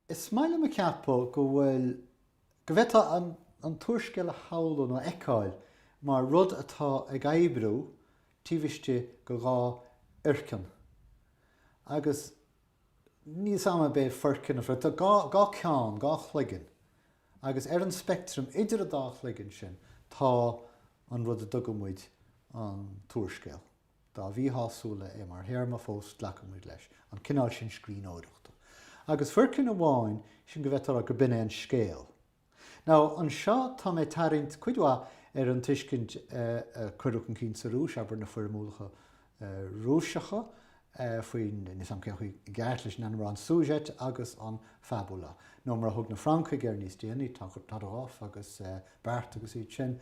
Is maith liom a cheapadh go bhfuil, go bhféadfá an t-úrscéal a shamhlú nó a fheiceáil mar rud atá ag oibriú taobh istigh de dhá fhoirceann. Agus níl 's 'am ab é foirceann a bhruith, tá dhá cheann, dhá chloigeann, agus ar an speictream idir an dá chloigeann sin tá an rud a dtugaimid an t-úrscéal. dá mhíshásúla é mar théarma, fós glacaimid leis an cineál sin scríbhneoireachta. Agus foirceann amháin, sin go bhféadfá a rá gurb in é an scéal. Now, anseo tá mé ag tarraingt cuid mhaith ar an tuiscint a cuireadh chun cinn sa Rúis, abair, na foirmiúlacha Rúiseacha faoin, níl 'fhios a'm cén chaoi i gceart leis an ainm a rá, an sujet agus an fabula. Nó mar a thug na Francaigh air níos déanaí, Todorov agus Barthes agus iad sin,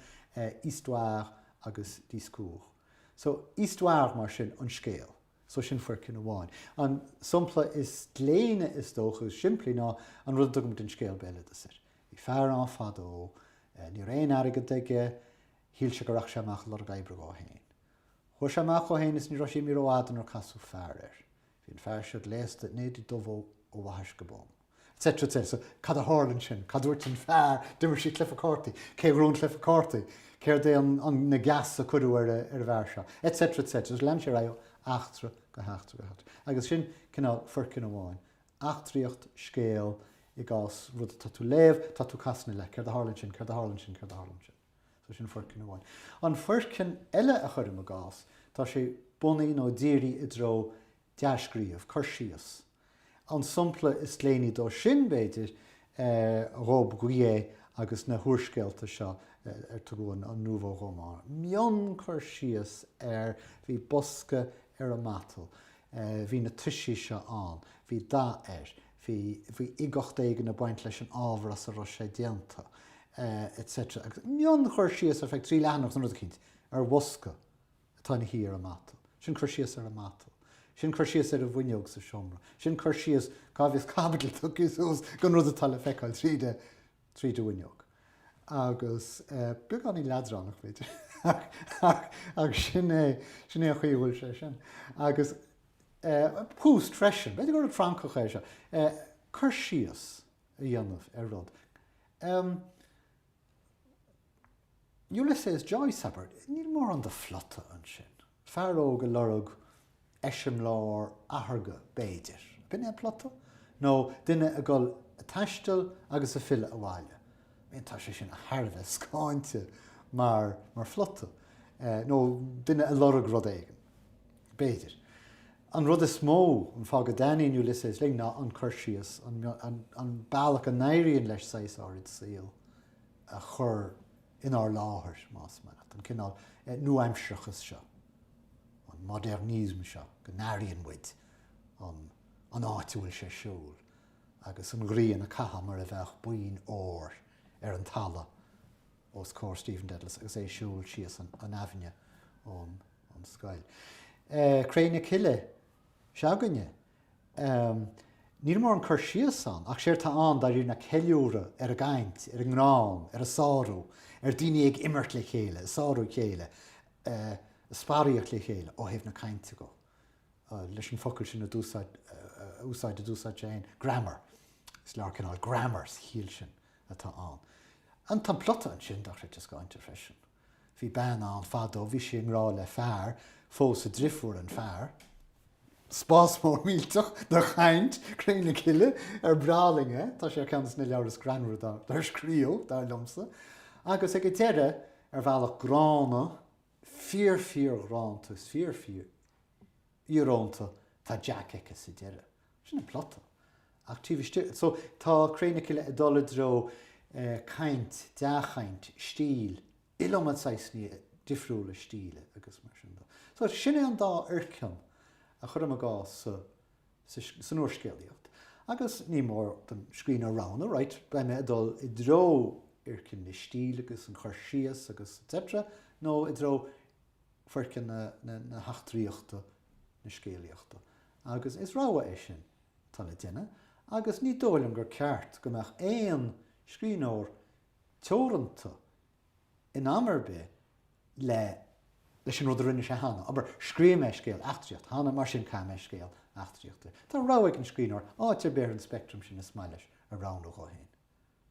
histoire agus discours. So, histoire, mar sin, an scéal. So, sin foirceann amháin. An sompla is gléine, is dócha, is simplí ná an rud a dtugaimid an scéal béaloideas air. Bhí fear ann fadó. Ní raibh aon airgead aige. Shíl sé go rachadh sé amach ag lorg oibre dhó féin. Chuaigh sé amach dhó féin is ní raibh sé imithe rófhada nuair a casadh fear air. Bhí an fear seo gléasta in éide dubh ó bhaithis go bonn. etc. etc. So, cad a tharla ansin? Cad a dúirt an fear? D'imir sí cluiche cártaí. Cé a ghnóthaigh an cluiche cártaí? Céard é an na geasa a cuireadh ar an bhfear seo? Etc. etc. Agus lean sé ar aghaidh ó eachtra go heachtra go heachtra. Agus sin cineál foirceann amháin. Eachtraíocht, scéal, i gcás rud atá tú léamh, tá tú casadh ina leith. Céard a tharla ansin? Céard a tharla ansin? Céard a tharla ansin? So sin foirceann amháin. An foirceann eile a chuirim i gcás, tá sé bunaithe nó dírithe i dtreo dea-scríobh, cur síos. An sompla is gléiní dó sin, b'fhéidir, Robbe-Grillet agus na húrscéalta seo ar tugadh an nouveau roman. Mion-chur síos ar bhí bosca ar an matal, bhí na toisí seo ann, bhí dath air, Bhí uigeacht éigin ag baint leis an ábhar as a raibh sé déanta, etc. Agus mion-chur síos ar feadh trí leathanach san rud eicínt ar bhosca atá ina shuí ar an matal, sin cur síos ar an matal, sin cur síos ar an bhfuinneog sa seomra, sin cur síos cá bhfios caibidil tugtha suas don rud atá le feiceáil tríd an tríd an bhfuinneog. Agus beagáinín leadránach, b'fhéidir, ach sin é an chaoi a bhfuil sé sin. Agus Proust freisin, b'fhéidir gur rud Francach é seo, cur síos a dhéanamh ar rud. Ulysses Joyce, abair, níl mórán de phlota ansin. Fear óg a lorg eiseamláir atharga, b'fhéidir. B'in é an plota? Nó duine ag dul a taisteal agus a filleadh abhaile? B'in, tá sé sin thar a bheith scáinte mar phlota. Nó duine a lorg rud éigin. B'fhéidir. An rud is mó, an fáth go dtaitníonn Ulysses linn ná an cur síos, an bealach a n-éiríonn leis saghas áirid saol a a chur inár láthair, más maith leat, an cineál nuaaimsearachais seo, an modernisme seo, go n-airíonn muid an áit a bhfuil sé ar siúl agus an ghrian a caitheadh mar a bheadh boinn óir ar an talamh os comhair Stephen Dedalus agus é ag siúl síos an aibhinne ón scoil. Cré na Cille. se'againne. Níl mórán cur síos ann, ach séard tá ann, dáiríre, ná ceiliúradh ar an gcaint, ar an ngreann, ar an sárú, ar daoine ag imirt le chéile, ag sárú a chéile, ag sparaíocht le chéile, ó thaobh na cainte dhó, leis an focal sin a úsáid, a d'úsáid sé féin, grammar. Is leabhar cineál grammar sa chiall sin atá ann. An, tá an plota ansin, dochreidte scáinte freisin. Bhí bean ann fadó, bhí sí i ngrádh le fear, phós a drifiúr an fear. Spás mór millteach de chaint, Cré na Cille ar breá linn é, tá sé ar cheann de na leabhair is greannmhaire dár scríobh, dar liomsa, agus ag an deireadh, ar bhealach gránna, fíor-fhíor-ghránna is fíor-fhíor-íorónta, tá Jack aici sa deireadh. Sin an plota. Ach taobh istigh, so, tá Cré na Cille ag dul i dtreo caint, dea-chaint, stíl, iliomad saghsanna difriúla stíle agus mar sin de. So, sin é an dá fhoirceann a chuirim i gcás sa n úrscéalaíocht. Agus ní mór don scríbhneoir roghnú, right, beidh mé ag dul i dtreo fhoirceann na stíle agus an chur síos agus etc, nó i dtreo foirceann na heachtraíochta, na scéalaíochta. Agus is rogha é sin atá le déanamh, agus ní dóigh liom gur ceart go mbeadh aon scríbhneoir teoranta in am ar bith leis an rud a rinne sé cheana. Abair, scríobh mé scéal eachtraíochta cheana, mar sin caithfidh mé scéal eachtraíochta. Tá rogha ag an scríbhneoir áit ar bith ar an speictream sin is maith leis a roghnú dhó féin.